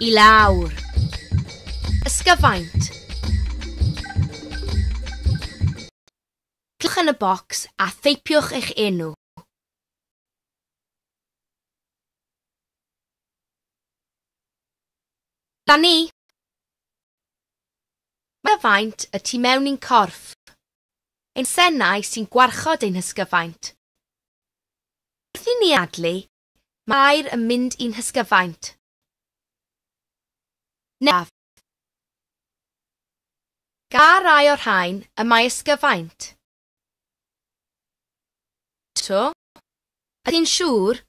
I lawr. Ysgyfaint. Cliciwch yn y bocs a theipiwch eich enw. Da ni! Mae faint y tu mewn i'n corff. Ein senau sy'n gwarchod ein hysgyfaint. Lluniadlu, Mae air yn mynd i'n hysgyfaint. Naf. Ga rai o'r rhain y mae ysgyfaint. To. Ydy'n siŵr?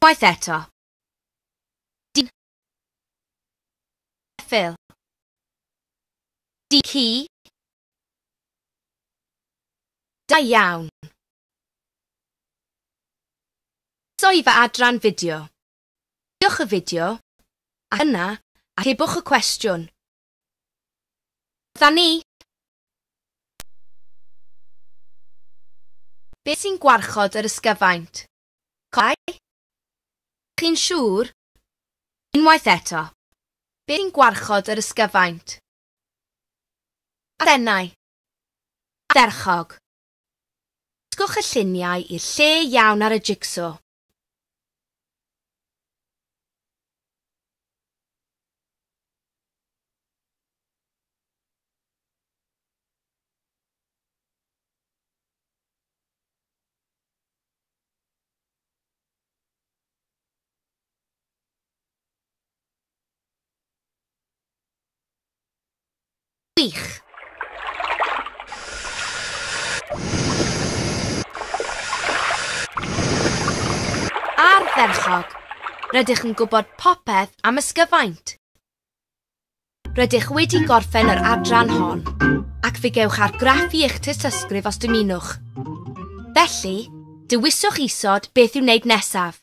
Waith eto. Phil. Di ci. Da iawn. Soi fy adran fideo. Diwch y fideo, a yna atebwch y cwestiwn. Dda ni! Beth sy'n gwarchod yr ysgyfaint? Coed? Chi'n siŵr Unwaith eto, beth sy'n gwarchod yr ysgyfaint? Arennau. Ardderchog. Dysgwch y lluniau i'r lle iawn ar y jigso. Gwych! Ardderchog! Rydych yn gwybod popeth am ysgyfaint. Rydych wedi gorffen yr adran hon, ac fe gewch argraffu eich tystysgrif os dymunwch. Felly, dewiswch isod beth i'w wneud nesaf.